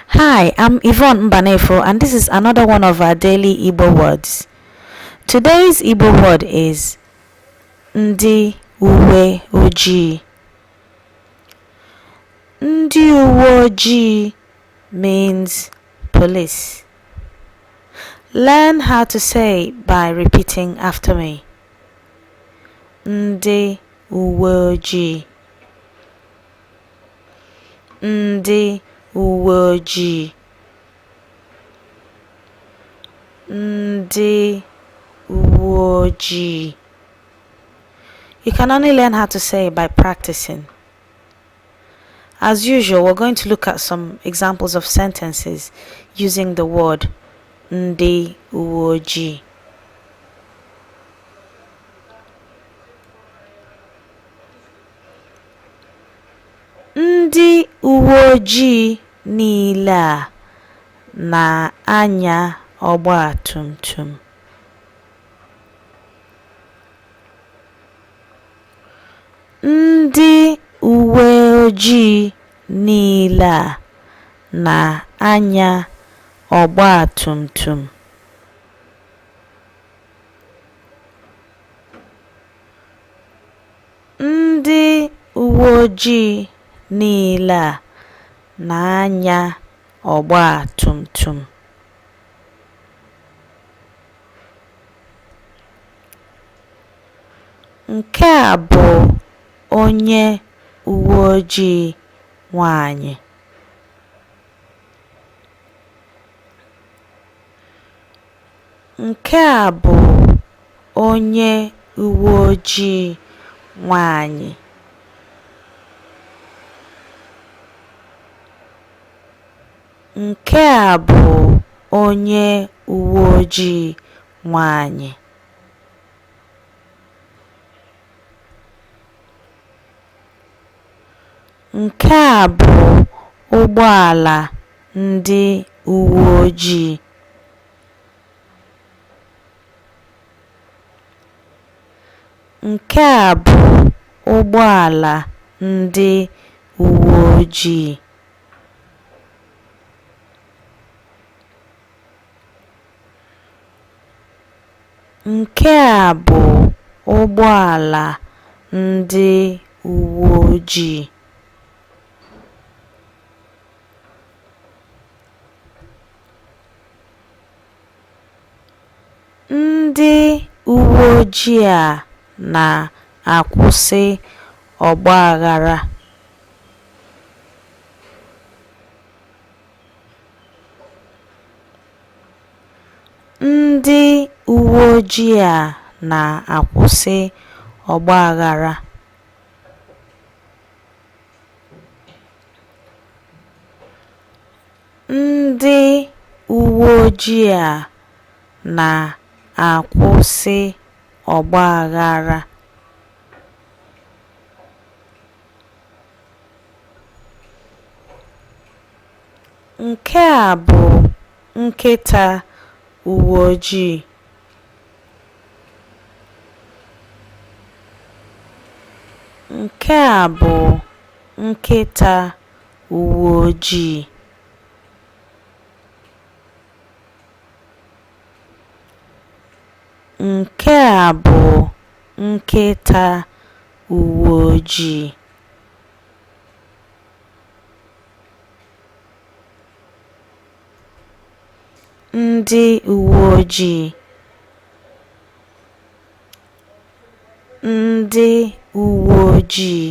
Hi, I'm Yvonne Mbanefo and this is another one of our daily Igbo words. Today's Igbo word is Ndi Uwe Ojii. Ndi Uwe Ojii means police. Learn how to say it by repeating after me. Ndi Uwe Ojii. ndị uwe ojii ndị uwe ojii you can only learn how to say it by practicing as usual we're going to look at some examples of sentences using the word ndị uwe ojii Ndị uwe ojii niile a na-anya ọgba tum tum. Ndị uwe ojii niile a na-anya ọgba tum tum. Ndị uwe ojii niile a na-anya ọgba tum tum. Nke a bụ onye uwe ojii nwaanyị. Nke a bụ onye uwe ojii nwanyị. Nke a bụ onye uwe ojii nwanyị. Nke a bụ ụgbọala ndị uwe ojii. Nke a bụ ụgbọala ndị uwe ojii. Nke a bụ ụgbọala ndị uwe ojii. Ndị uwe ojii a na-akwụsị ọgbaghara. Ndị uwe ojii a na-akwụsị ọgbaghara. Ndị uwe ojii a na-akwụsị ọgbaghara. Nke a bụ nkịta uwe ojii. Nke a bụ nkịta uweojii Nke a bụ nkịta uweojii. Ndị uweojii Ndị uweojii